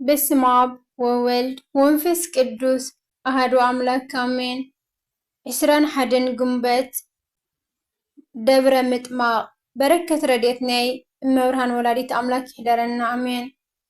በስመ ኣብ ወወልድ ወንፈስ ቅዱስ ኣሃዱ ኣምላክ ኣሜን። ዕስራን ሓደን ግንቦት ደብረ ምጥማቅ በረከት ረድኤት ናይ እመብርሃን ወላዲት ኣምላክ ይሕደረና ኣሜን።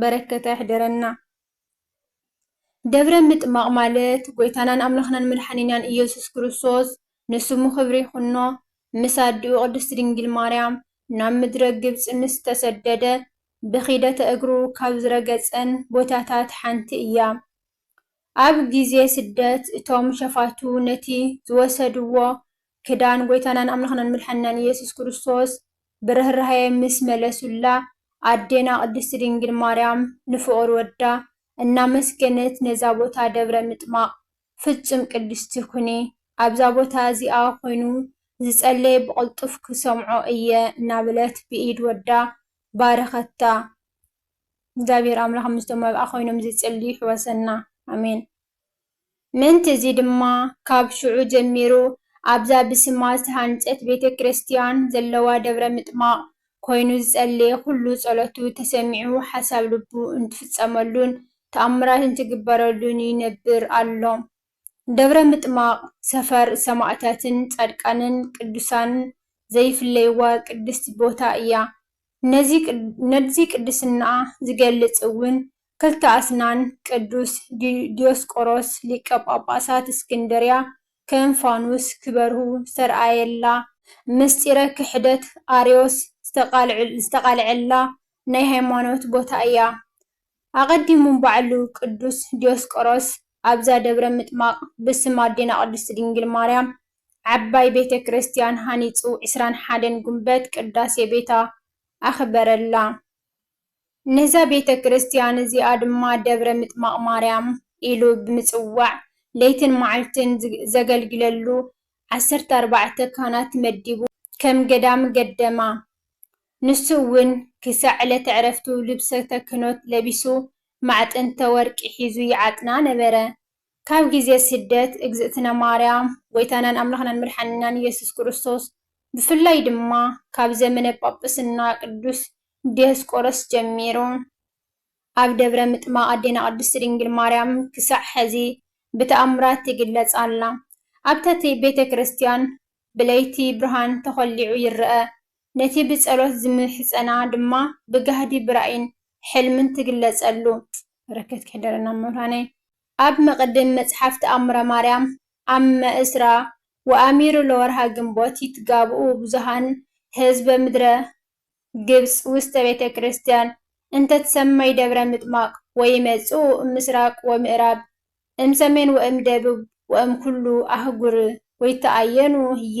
በረከቱ ኣይሕደረና። ደብረ ምጥማቕ ማለት ጎይታናን ኣምላኽናን መድሓኒናን ኢየሱስ ክርስቶስ ንስሙ ክብሪ ይኹኖ ምስ ኣዲኡ ቅድስት ድንግል ማርያም ናብ ምድረ ግብጺ ምስ ተሰደደ ብኺደተ እግሩ ካብ ዝረገጸን ቦታታት ሓንቲ እያ። ኣብ ግዜ ስደት እቶም ሸፋቱ ነቲ ዝወሰድዎ ክዳን ጎይታናን ኣምላኽናን መድሓኒናን ኢየሱስ ክርስቶስ ብርህራሄ ምስ መለሱላ ኣዴና ቅድስቲ ድንግል ማርያም ንፍቑር ወዳ እናመስገነት ነዛ ቦታ ደብረ ምጥማቕ ፍጹም ቅድስቲ ኩኒ ኣብዛ ቦታ እዚኣ ኮይኑ ዝጸለየ ብቕልጡፍ ክሰምዖ እየ እናበለት ብኢድ ወዳ ባረኸታ። እግዚኣብሔር ኣምላኽ ምስቶም ኣብኣ ዀይኖም ዚጽልዩ ይሕወሰና። ኣሜን። ምእንቲ እዚ ድማ፣ ካብ ሽዑ ጀሚሩ ኣብዛ ብስማ ዝተሃንጸት ቤተ ክርስትያን ዘለዋ ደብረ ምጥማቕ ኰይኑ ዝጸለየ ዅሉ ጸሎቱ ተሰሚዑ ሓሳብ ልቡ እንትፍጸመሉን ተኣምራት እንትግበረሉን ይነብር ኣሎ። ደብረ ምጥማቕ ሰፈር ሰማእታትን ጻድቃንን ቅዱሳንን ዘይፍለይዋ ቅድስቲ ቦታ እያ። ነዚ ቅድስንኣ ዝገልጽ እውን ክልተ ኣስናን ቅዱስ ዲዮስቆሮስ ሊቀ ጳጳሳት እስክንድርያ ከም ፋኑስ ክበርሁ ዝተርኣየላ፣ ምስጢረ ክሕደት ኣርዮስ ዝተቓልዐላ ናይ ሃይማኖት ቦታ እያ። ኣቐዲሙ ባዕሉ ቅዱስ ዲዮስቆሮስ ኣብዛ ደብረ ምጥማቕ ብስም ኣዴና ቅድስት ድንግል ማርያም ዓባይ ቤተ ክርስቲያን ሃኒጹ ዕስራን ሓደን ጉንበት ቅዳሴ ቤታ ኣኽበረላ። ነዛ ቤተ ክርስቲያን እዚኣ ድማ ደብረ ምጥማቕ ማርያም ኢሉ ብምጽዋዕ ለይትን መዓልትን ዘገልግለሉ ዓሰርተ ኣርባዕተ ካህናት መዲቡ ከም ገዳም ገደማ። ንሱ እውን ክሳዕ ዕለተ ዕረፍቱ ልብሰተ ክህኖት ለቢሱ ማዕጠንተ ወርቂ ሒዙ ይዓጥና ነበረ። ካብ ግዜ ስደት እግዝእትነ ማርያም ጎይታናን ኣምላኽናን መድሓኒናን ኢየሱስ ክርስቶስ ብፍላይ ድማ ካብ ዘመነ ጳጵስና ቅዱስ ዲዮስቆሮስ ጀሚሩ ኣብ ደብረ ምጥማቕ ኣዴና ቅድስቲ ድንግል ማርያም ክሳዕ ሕዚ ብተኣምራት ትግለጽ ኣላ። ኣብታቲ ቤተ ክርስቲያን ብለይቲ ብርሃን ተኾሊዑ ይረኣ ነቲ ብጸሎት ዝምሕጸና ድማ ብጋህዲ ብራእይን ሕልምን ትግለጸሉ። በረከት ክሕደረና መምህራነይ። ኣብ መቅድም መጽሓፍ ተኣምረ ማርያም ኣመ እስራ ወኣሚሩ ለወርኃ ግንቦት ይትጋብኡ ብዙኃን ሕዝበ ምድረ ግብጽ ውስተ ቤተ ክርስቲያን እንተ ትሰመይ ደብረ ምጥማቅ ወይመጽኡ እምሥራቅ ወምእራብ እምሰሜን ወእምደብብ ወእምኩሉ ኣህጉር ወይተኣየኑ ህዬ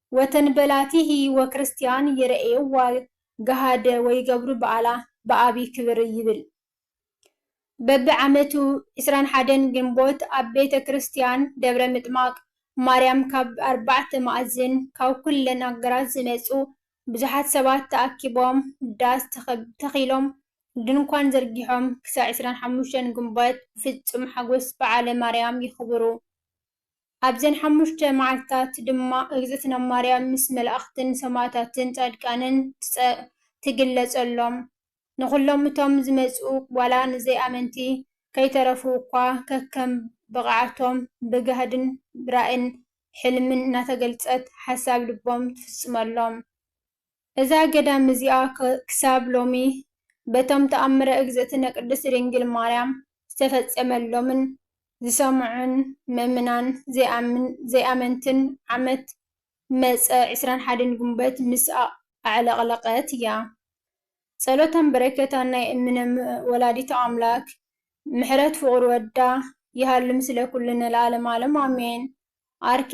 ወተን በላቲ ህይወ ክርስቲያን ይረኤዋ ገሃደ ወይገብሩ በዓላ ብዓቢ ክብር ይብል። በቢ ዓመቱ ዕስራን ሓደን ግንቦት ኣብ ቤተ ክርስቲያን ደብረ ምጥማቅ ማርያም ካብ ኣርባዕተ መኣዝን ካብ ኩለን ኣገራት ዝመጹ ብዙሓት ሰባት ተኣኪቦም ዳስ ተኺሎም ድንኳን ዘርጊሖም ክሳዕ ዕስራን ሓሙሽተን ግንቦት ብፍጹም ሓጎስ በዓለ ማርያም የኽብሩ። ኣብዘን ሓሙሽተ መዓልትታት ድማ እግዝእትነ ማርያም ምስ መላእኽትን ሰማእታትን ጻድቃንን ትግለጸሎም። ንኹሎም እቶም ዝመጽኡ ዋላ ንዘይኣመንቲ ከይተረፉ እኳ ከከም ብቕዓቶም ብጋህድን ብራእን ሕልምን እናተገልጸት ሓሳብ ልቦም ትፍጽመሎም። እዛ ገዳም እዚኣ ክሳብ ሎሚ በቶም ተኣምረ እግዝእትነ ቅድስት ድንግል ማርያም ዝተፈጸመሎምን ዝሰምዑን ምእምናን ዘይኣመንትን ዓመት መጸ ዕስራን ሓደን ጉንበት ምስ ኣዕለቕለቐት እያ። ጸሎታን በረከታን ናይ እምነ ወላዲተ ኣምላክ ምሕረት ፍቁር ወዳ ይሃሉ ምስለ ኩሉ ንልኣለም ኣለም ኣሜን። ኣርኬ።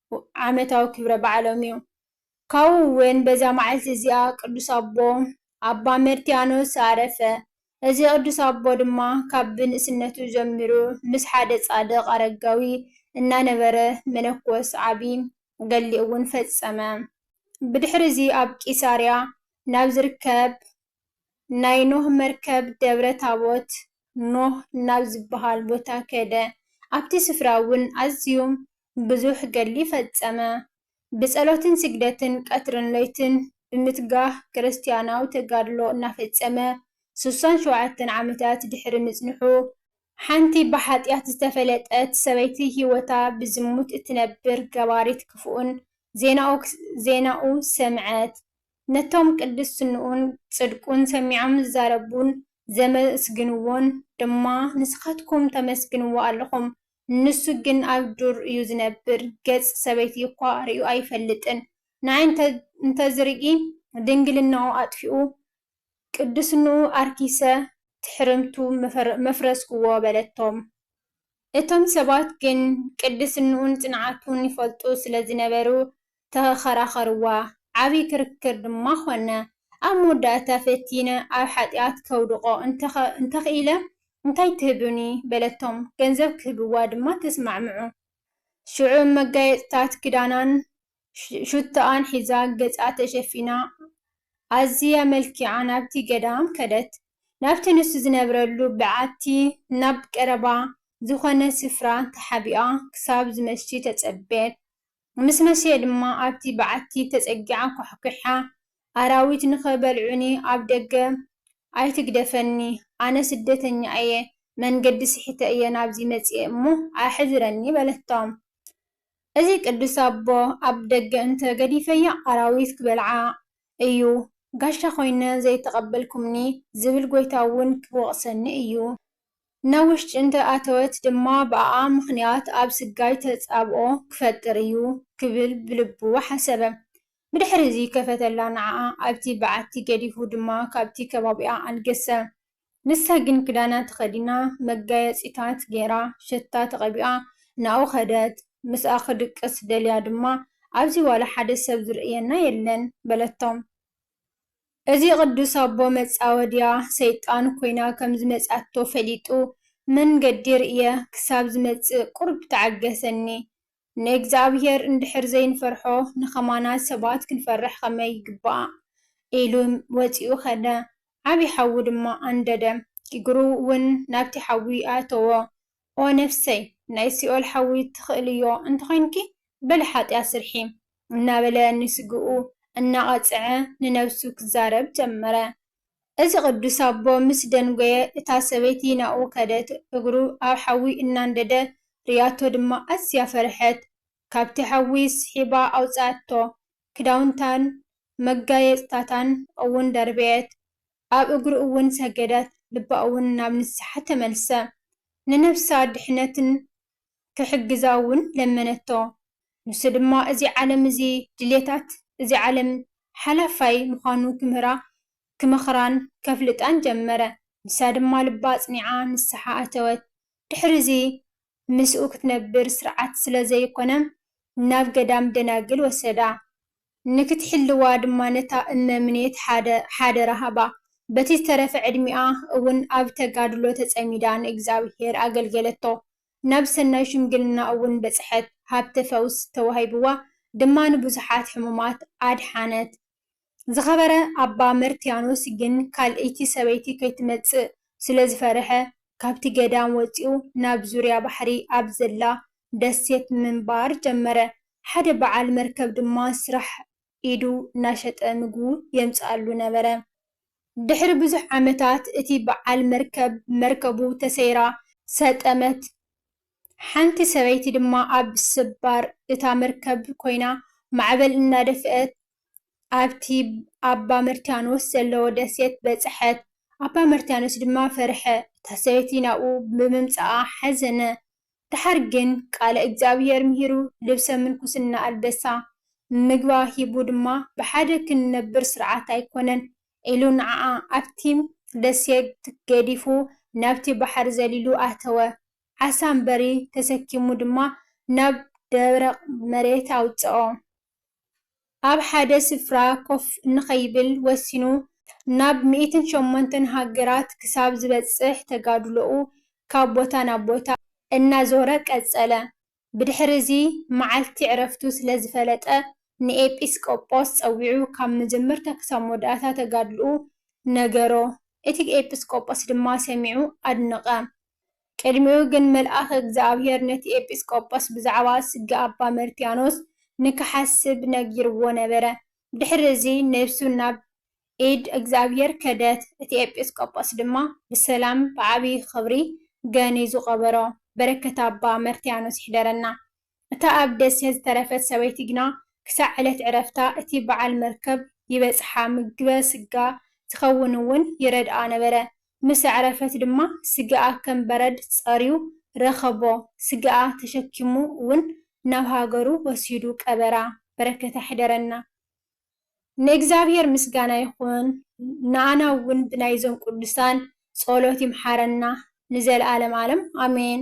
ዓመታዊ ክብረ በዓሎም እዩ። ካብኡ እውን በዛ መዓልቲ እዚኣ ቅዱስ ኣቦ ኣባ መርትያኖስ ኣረፈ። እዚ ቅዱስ ኣቦ ድማ ካብ ብንእስነቱ ጀሚሩ ምስ ሓደ ጻድቕ ኣረጋዊ እናነበረ መነኮስ ዓቢ ገድሊ እውን ፈጸመ። ብድሕሪ እዚ ኣብ ቂሳርያ ናብ ዝርከብ ናይ ኖህ መርከብ ደብረ ታቦት፣ ኖህ ናብ ዚብሃል ቦታ ከደ፣ ኣብቲ ስፍራውን ኣዝዩ ብዙሕ ገድሊ ፈጸመ። ብጸሎትን ስግደትን ቀትርን ለይትን ብምትጋህ ክርስትያናዊ ተጋድሎ እናፈጸመ ስሳን ሸውዓተን ዓመታት ድሕሪ ምጽንሑ፣ ሓንቲ ብሓጢኣት ዝተፈለጠት ሰበይቲ ህይወታ ብዝሙት እትነብር ገባሪት ክፉእን ዜናኡ ሰምዐት። ነቶም ቅድስንኡን ጽድቁን ሰሚዖም ዝዛረቡን ዘመስግንዎን ድማ ንስኻትኩም ተመስግንዎ ኣሎኹም። ንሱ ግን ኣብ ዱር እዩ ዝነብር፣ ገጽ ሰበይቲ እኳ ርእዩ ኣይፈልጥን። ንኣይ እንተ ዝርኢ ድንግልናኡ ኣጥፊኡ ቅድስንኡ ኣርኪሰ ትሕርምቱ መፍረስክዎ በለቶም። እቶም ሰባት ግን ቅድስንኡን ጽንዓቱን ይፈልጡ ስለ ዝነበሩ ተኸራኸርዋ፣ ዓቢ ክርክር ድማ ዀነ። ኣብ መወዳእታ ፈቲነ ኣብ ሓጢኣት ከውድቖ እንተ ኽኢለ እንታይ ትህቡኒ? በለቶም፣ ገንዘብ ኪህብዋ ድማ ተስማዕምዑ። ሽዑ መጋየጽታት ክዳናን ሽቶኣን ሒዛ ገጻ ተሸፊና ኣዝያ መልኪዓ ናብቲ ገዳም ከደት። ናብቲ ንሱ ዝነብረሉ በዓቲ ናብ ቀረባ ዝዀነ ስፍራ ተሓቢኣ ክሳብ ዝመሺ ተጸበየት። ምስ መሲየ ድማ ኣብቲ በዓቲ ተጸጊዓ ኳሕኲሓ፣ ኣራዊት ንኸበልዑኒ ኣብ ደገ ኣይትግደፈኒ፣ ኣነ ስደተኛ እየ፣ መንገዲ ስሒተ እየ ናብዚ መጺኤ እሞ ኣሕድረኒ በለቶም። እዚ ቅዱስ ኣቦ ኣብ ደገ እንተ ገዲፈያ ኣራዊት ክበልዓ እዩ፣ ጋሻ ኮይነ ዘይተቐበልኩምኒ ዝብል ጎይታ እውን ክወቕሰኒ እዩ፣ ናብ ውሽጢ እንተ ኣተወት ድማ ብኣኣ ምኽንያት ኣብ ስጋይ ተጻብኦ ክፈጥር እዩ ክብል ብልቡ ሓሰበ። ብድሕሪዚ ከፈተላ ንዓኣ ኣብቲ በዓቲ ገዲፉ ድማ ካብቲ ከባቢኣ ኣልገሰ። ንሳ ግን ክዳና ተኸዲና መጋየጺታት ጌራ ሸታ ተቐቢኣ ንኣኡ ከደት። ምስኣ ክድቅስ ደልያ ድማ ኣብዚ ዋላ ሓደ ሰብ ዝርእየና የለን በለቶ። እዚ ቅዱስ ኣቦ መጻወድያ ሰይጣን ኮይና ከም ዝመጽኣቶ ፈሊጡ መንገዲ ርእየ ክሳብ ዝመጽእ ቁሩብ ተዓገሰኒ። ንእግዝኣብሄር እንድሕር ዘይንፈርሖ ንከማና ሰባት ክንፈርሕ ከመይ ይግባእ? ኢሉ ወጺኡ ከደ። ዓቢ ሓዊ ድማ ኣንደደ። እግሩ ውን ናብቲ ሓዊ ኣእተዎ። ኦ ነፍሰይ ናይ ሲኦል ሓዊ ትኽእልዮ እንተኾይንኪ በሊ ሓጥያት ስርሒ እናበለ ንስግኡ እናቐጽዐ ንነብሱ ክዛረብ ጀመረ። እዚ ቅዱስ ኣቦ ምስ ደንጎየ እታ ሰበይቲ ናብኡ ከደት እግሩ ኣብ ሓዊ እናንደደ ርእያቶ ድማ ኣዝያ ፈርሐት ካብቲ ሓዊ ስሒባ ኣውጽኣቶ ክዳውንታን መጋየጽታታን እውን ደርበየት ኣብ እግሩ እውን ሰገደት፣ ልባ እውን ናብ ንስሓ ተመልሰ፣ ንነፍሳ ድሕነትን ኪሕግዛ እውን ለመነቶ። ንሱ ድማ እዚ ዓለም እዚ ድልየታት እዚ ዓለም ሓላፋይ ምዃኑ ኪምህራ ኪመኽራን ከፍልጣን ጀመረ። ንሳ ድማ ልባ ኣጽኒዓ ንስሓ ኣተወት። ድሕርዚ ምስኡ ክትነብር ስርዓት ስለ ዘይኰነ ናብ ገዳም ደናግል ወሰዳ። ንክትሕልዋ ድማ ነታ እመ ምኔት ሓደ ሓደራ ሃባ። በቲ ዝተረፈ ዕድሚኣ እውን ኣብ ተጋድሎ ተጸሚዳ ንእግዚኣብሔር ኣገልገለቶ። ናብ ሰናይ ሽምግልና እውን በጽሐት፣ ሃብተ ፈውስ ተዋሂብዋ ድማ ንብዙሓት ሕሙማት ኣድሓነት። ዝኸበረ ኣባ መርትያኖስ ግን ካልእይቲ ሰበይቲ ከይትመጽእ ስለ ዝፈርሐ ካብቲ ገዳም ወጺኡ ናብ ዙርያ ባሕሪ ኣብ ዘላ ደሴት ምንባር ጀመረ። ሓደ በዓል መርከብ ድማ ስራሕ ኢዱ እናሸጠ ምግቡ የምጽኣሉ ነበረ። ድሕሪ ብዙሕ ዓመታት እቲ በዓል መርከብ መርከቡ ተሰይራ ሰጠመት፣ ሓንቲ ሰበይቲ ድማ ኣብ ስባር እታ መርከብ ኮይና ማዕበል እናደፍእት ኣብቲ ኣባ መርትያኖስ ዘለዎ ደሴት በጽሐት። ኣባ መርትያኖስ ድማ ፈርሐ፣ እታ ሰበይቲ ናብኡ ብምምጽኣ ሓዘነ፣ ደሓር ግን ቃለ እግዚኣብሔር ምሂሩ ልብሰ ምንኩስና ኣልበሳ፣ ምግባ ሂቡ ድማ ብሓደ ክንነብር ስርዓት ኣይኮነን ኢሉ ንዓኣ ኣብቲ ደሴት ገዲፉ ናብቲ ባሕሪ ዘሊሉ ኣተወ። ዓሳ ኣምበሪ ተሰኪሙ ድማ ናብ ደረቕ መሬት ኣውጽኦ። ኣብ ሓደ ስፍራ ኮፍ እንከይብል ወሲኑ ናብ ሚእትን ሸሞንተን ሃገራት ክሳብ ዝበጽሕ ተጋድሎኡ ካብ ቦታ ናብ ቦታ እናዞረ ቀጸለ። ብድሕሪ'ዚ መዓልቲ ዕረፍቱ ስለ ዝፈለጠ ንኤጲስቆጶስ ጸዊዑ ካብ መጀመርታ ክሳብ መወዳእታ ተጋድሎኡ ነገሮ። እቲ ኤጲስቆጶስ ድማ ሰሚዑ ኣድነቐ። ቅድሚኡ ግን መልኣኽ እግዚኣብሔር ነቲ ኤጲስ ቆጶስ ብዛዕባ ስጋ ኣባ መርትያኖስ ንክሓስብ ነጊርዎ ነበረ። ድሕሪ እዚ ነብሱ ናብ ኢድ እግዚኣብሔር ከደት፣ እቲ ኤጲስ ቆጶስ ድማ ብሰላም ብዓቢይ ኽብሪ ገንዩ ዝቐበሮ። በረከት ኣባ መርትያኖስ ይሕደረና። እታ ኣብ ደሴት ዝተረፈት ሰበይቲ ግና ክሳዕ ዕለት ዕረፍታ እቲ በዓል መርከብ ይበጽሓ ምግበ ስጋ ዝኸውን እውን ይረድኣ ነበረ። ምስ ኣዕረፈት ድማ ስጋኣ ከም በረድ ጸርዩ ረኸቦ፣ ስጋኣ ተሸኪሙ እውን ናብ ሃገሩ ወሲዱ ቀበራ። በረከታ ይሕደረና። ንእግዚኣብሔር ምስጋና ይኹን ንኣና እውን ብናይዞም ቅዱሳን ጸሎት ይምሓረና ንዘለዓለም ዓለም ኣሜን።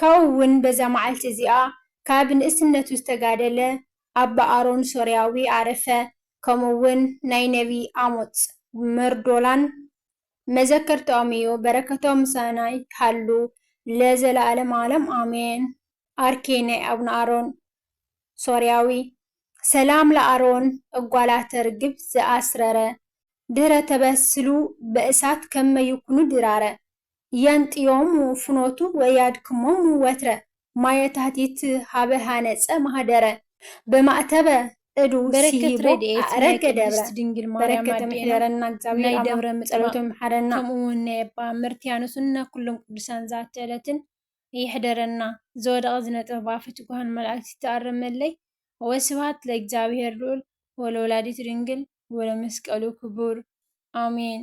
ካብኡ ውን በዛ መዓልቲ እዚኣ ከኣ ብንእስነቱ ዝተጋደለ ኣባ ኣሮን ሶርያዊ ኣረፈ፣ ከምኡ ውን ናይ ነብይ ኣሞጽ መርዶላን መዘከርትኦም ኢዩ፣ በረከቶም ምሳና ይሃሉ ለዘለኣለም ኣለም ኣሜን። ኣርኬ ናይ ኣቡነ ኣሮን ሶርያዊ። ሰላም ለኣሮን እጓላተ ርግብ ዘኣስረረ ድህረ ተበስሉ በእሳት ከመ ይኩኑ ድራረ። የንጥዮሙ ፍኖቱ ወያድክሞሙ ወትረ፣ ማየ ታህቲት ኀበ ኀነጸ ማኅደረ። በማእተበ እዱ ሲሂቦ ኣዕረገ ደብረ፣ በረከቶም ይሕደረና እግዚኣብሔር ኣምላክ ጸሎቶም ይምሓረና። ከምኡውን ናይ ኣባ መርትያኖስን ናይ ኩሎም ቅዱሳን ዛቲ ዕለትን ይሕደረና። ዝወደቐ ዝነጠበ ብኣፈ ትጉሃን መላእክት ይተኣረመለይ። ወስብሐት ለእግዚኣብሔር ልዑል ወለወላዲቱ ድንግል ወለመስቀሉ ክቡር። ኣሜን።